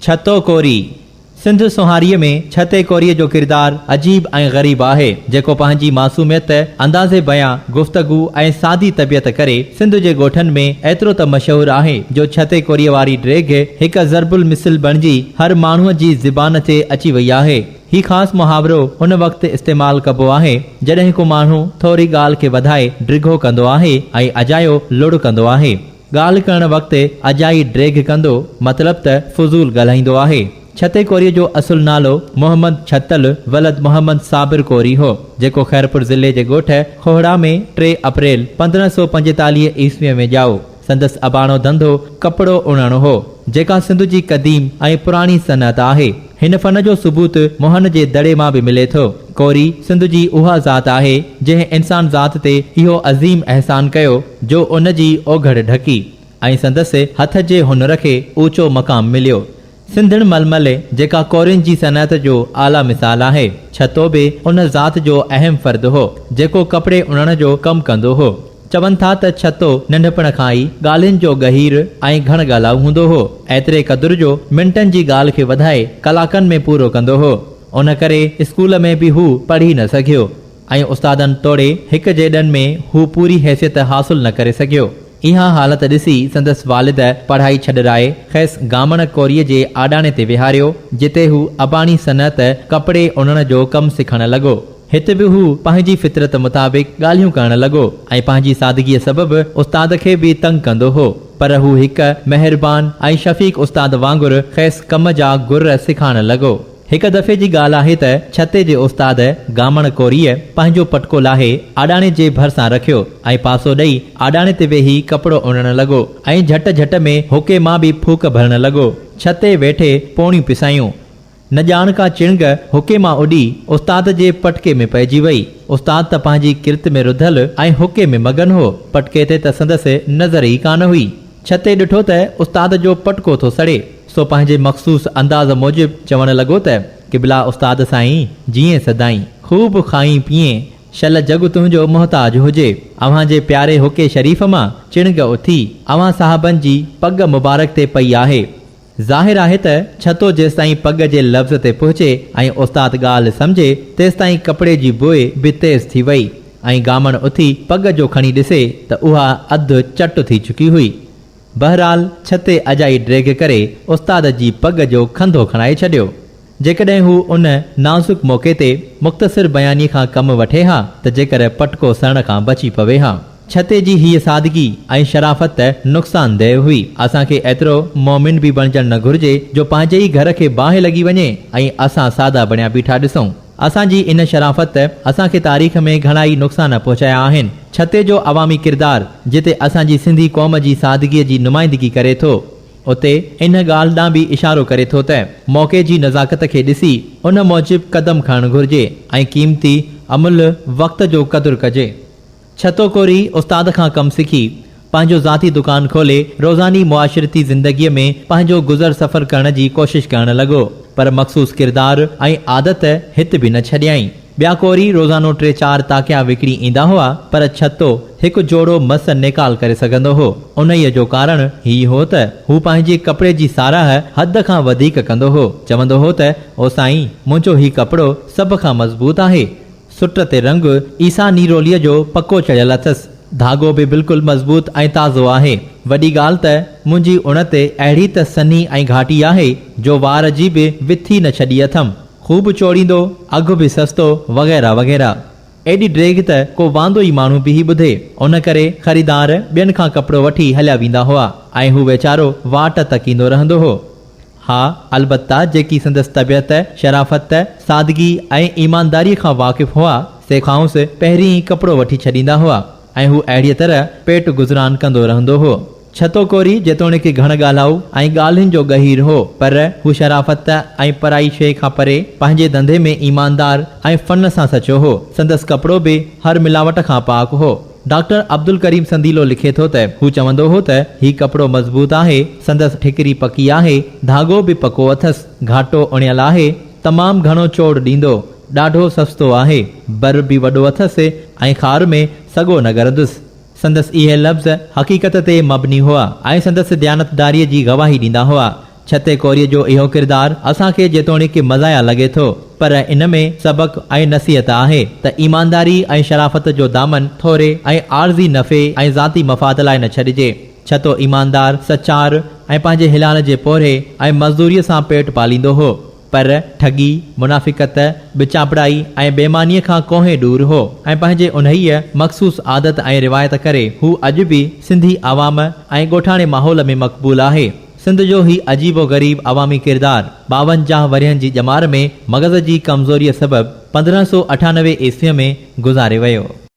ڇتو ڪوري، سنڌ سونهاريء ۾ ڇتي ڪوريء جو ڪردار عجيب ۽ غريب آهي، جيڪو پنهنجي معصوميت، انداز بيان، گفتگو ۽ سادي طبيعت ڪري سنڌ جي ڳوٺن ۾ ايترو ته مشهور آهي جو ڇتي ڪوريء واري ڊيگهه هڪ ضرب المثل بڻجي هر ماڻهوء جي زبان تي اچي وئي آهي. هي خاص محاورو ان وقت استعمال ڪبو آهي، جڏهن ڪو ماڻهو ٿوري ڳالهه کي وڌائي ڊگهو ڪندو آهي ۽ اجايو لڙ ڪندو آهي. ڳالهه ڪرڻ وقت اجائي ڊيگهه ڪندو مطلب ته فضول ڳالهائيندو آهي. ڇتي ڪوريء جو اصل نالو محمد ڇتل ولد محمد صابر ڪوري هو، جيڪو خيرپور ضلعي جي ڳوٺ کوهڙا ۾ ٽي اپريل پندرهن سؤ پنجيتاليهه عيسويء ۾ ڄائو. سندس اباڻو ڌنڌو ڪپڙو اڻڻ هو، جيڪا سنڌ جي قديم ۽ پراڻي صنعت آهي. هن فن جو ثبوت موهن جي دڙي مان به ملي ٿو. ڪوري سنڌ جي اها ذات آهي، جنهن انسان ذات تي اهو عظيم احسان ڪيو، جو ان جي اوگهڙ ڍڪي ۽ سندس هٿ جي هنر کي اوچو مقام مليو. سنڌڻ ململ، جيڪا ڪورين جي صنعت جو اعليٰ مثال آهي، ڇتو به ان ذات جو اهم فرد هو، جيڪو ڪپڙي اڻڻ جو ڪم ڪندو هو. چون ٿا ته ڇتو ننڍپڻ کان ئي ڳالهين جو ڳهير ۽ گهڻ ڳالهائو هوندو هو. ايتري قدر جو منٽن جي ڳالهه کي وڌائي ڪلاڪن ۾ پورو ڪندو هو. ان ڪري اسڪول ۾ به هو پڙهي نه سگهيو ۽ استادن توڙي هڪ جيڏن ۾ هو پوري حيثيت حاصل نه ڪري سگهيو. اها حالت ڏسي سندس والد پڙهائي ڇڏرائي کيس گامڻ ڪوريء جي آڏاڻي تي ويهاريو، جتي هو اباڻي صنعت، ڪپڙي اڻڻ، جو ڪم سکڻ لڳو. هت به هو پنهنجي فطرت مطابق ڳالهيون ڪرڻ لڳو ۽ پنهنجي سادگيء سبب استاد کي به تنگ ڪندو هو، پر هو هڪ مهربان ۽ شفيق استاد وانگر کيس ڪم جا گر سکائڻ لڳو. هڪ دفعي جي ڳالهه آهي ته ڇتي جي استاد گامڻ ڪوريء پنهنجو پٽڪو لاهي آڏاڻي جي ڀرسان رکيو ۽ پاسو ڏئي آڏاڻي تي ويهي ڪپڙو اڻڻ لڳو ۽ جهٽ جهٽ ۾ حقي مان به ڦوڪ ڀرڻ لڳو. ڇتي ويٺي پوڻيون پسايون. نه ڄاڻ ڪا چڻگ حڪي مان اڏي استاد جي پٽڪي ۾ پئجي وئي. استاد ته پنهنجي ڪرت ۾ رڌل ۽ حڪي ۾ مگن هو، پٽڪي تي ته سندس نظر ئي ڪانه هئي. ڇتي ڏٺو ته استاد جو پٽڪو ٿو سڙي، سو پنهنجي مخصوص انداز موجب چوڻ لڳو ته، قبلا استاد سائين، جيئين سدائين، خوب کائين پيئين، شل جڳ تنهنجو محتاج هجي. اوهان جي پياري حڪي شريف مان چڻگ اٿي، اوهان صاحبن جي پڳ مبارڪ تي پئي آهي. ظاهر آهي ته ڇتو جيستائين پڳ جي لفظ تي پهچي ۽ استاد ڳالهه سمجهي تيستائين ڪپڙي جي بوء به تيز ٿي وئي ۽ گامڻ اٿي پڳ جو کڻي ڏسي ته اها اڌ چٽ ٿي چڪي هئي. بهرحال ڇتي اجائي ڊيگهه ڪري استاد جي پڳ جو کنڌو کڻائي ڇڏيو. جيڪڏهن هو ان نازڪ موقعي تي مختصر بيانيي کان ڪم وٺي ها ته جيڪر پٽڪو سهڻ کان بچي پوي ها. ڇتي جي هيء سادگي ۽ شرافت ته نقصان دهه هئي. اسان کي ايترو مومن به بڻجڻ نه گهرجي جو پنهنجي ئي گهر کي باهه لڳي وڃي ۽ اسان سادا بڻيا بيٺا ڏسون. اسان جي ان شرافت ته اسان کي تاريخ ۾ گهڻا ئي نقصان پهچايا آهن. ڇتي جو عوامي ڪردار جتي اسان جي سنڌي قوم جي سادگيء جي نمائندگي ڪري ٿو. اتي ان ڳالهه ڏانهن به اشارو ڪري ٿو ته موقعي جي نزاڪت کي ڏسي ان موجب قدم کڻڻ گهرجي ۽ قيمتي املهه وقت جو قدر ڪجي. ڇتو ڪوري استاد کان ڪم سکي، پنهنجو ذاتي دڪان کولي روزاني معاشرتي زندگيء ۾ پنهنجو گذر سفر ڪرڻ جي ڪوشش ڪرڻ لڳو، پر مخصوص ڪردار ۽ عادت هت به نه ڇڏيائين. ٻيا ڪوري روزانو ٽي چار تاڪيا وڪڻي ايندا هئا، پر ڇتو هڪ جوڙو مس نيڪال ڪري سگهندو هو. انهيء جو ڪارڻ هي هو ته هو پنهنجي ڪپڙي جي ساراهه حد کان وڌيڪ ڪندو هو. چوندو هو ته او سائين، منهنجو هي ڪپڙو سڀ کان مضبوط آهي. سٽ تي رنگ عيسيٰ نيروليء جو پڪو چڙهيل اٿس. ڌاڳو به بلڪل مضبوط ۽ تازو آهي. وڏي ڳالهه ته منهنجي اڻ تي اهڙي ته سنهي ۽ گهاٽي آهي، جو وار جي به وٿي نه ڇڏي اٿم. خوب چوڙيندو، اگهه به سستو وغيره وغيره. ايڏي ڊيگهه ته ڪو واندو ئي ماڻهو به هي ٻڌي. ان ڪري خريدار ٻين کان ڪپڙو وٺي هليا ويندا هئا ۽ هو ويچارو واٽ تڪيندو رهندو هو. ها البته جيڪي سندس طبيعت، شرافت، سادگي ۽ ايمانداريء کان واقف هئا سي کانئس پهرين ئي ڪپڙو وٺي ڇڏيندا هئا ۽ هو اهڙيء طرح پيٽ گذران ڪندو رهندو هو. ڇتو ڪوري جيتوڻيڪ گهڻ ڳالهائو ۽ ڳالهين جو ڳهير هو، پر هو شرافت ۽ پرائي شيء کان پري، پنهنجي ڌنڌي ۾ ايماندار ۽ فن سان سچو هو. سندس ڪپڙو به هر ملاوٽ کان پاڪ هو. ڊاڪٽر عبدالڪريم سنديلو لکي ٿو ته هو چوندو هو ته هي ڪپڙو مضبوط آهي، سندس ٺڪري پڪي آهي، ڌاڳو به پڪو اٿس، گهاٽو اڻيل آهي، تمام گهڻو چوڙ ڏيندو، ڏاڍو سستو آهي، بر به وڏو اٿس ۽ خار ۾ سڳو نه ڳرندس. سندس اهي لفظ حقيقت تي مبني هئا ۽ سندس ديانتداريء جي گواهي ڏيندا هئا. ڇتي ڪوريء جو اهو ڪردار اسان کي جيتوڻيڪ مزاح لڳي ٿو، پر ان ۾ سبق ۽ نصيحت آهي ته ايمانداري ۽ شرافت جو دامن ٿوري ۽ عارضي نفعي ۽ ذاتي مفاد لاء نه ڇڏجي. ڇتو ايماندار، سچار ۽ پنهنجي حلال جي پورهيي ۽ مزدوريء سان پيٽ پاليندو هو. پر ٺڳي، منافقت، ٻچانپڙائي ۽ بيمانيء کان ڪوهين ڏور هو ۽ پنهنجي انهيء مخصوص عادت ۽ روايت ڪري هو اڄ به سنڌي عوام ۽ ڳوٺاڻي ماحول ۾ مقبول آهي. سنڌ جو هي عجيب و غريب عوامي ڪردار ٻاونجاهه ورهين جي ڄمار ۾ مغز جي ڪمزوريء سبب پندرهن سؤ اٺانوي عيسويء ۾ گذاري ويو.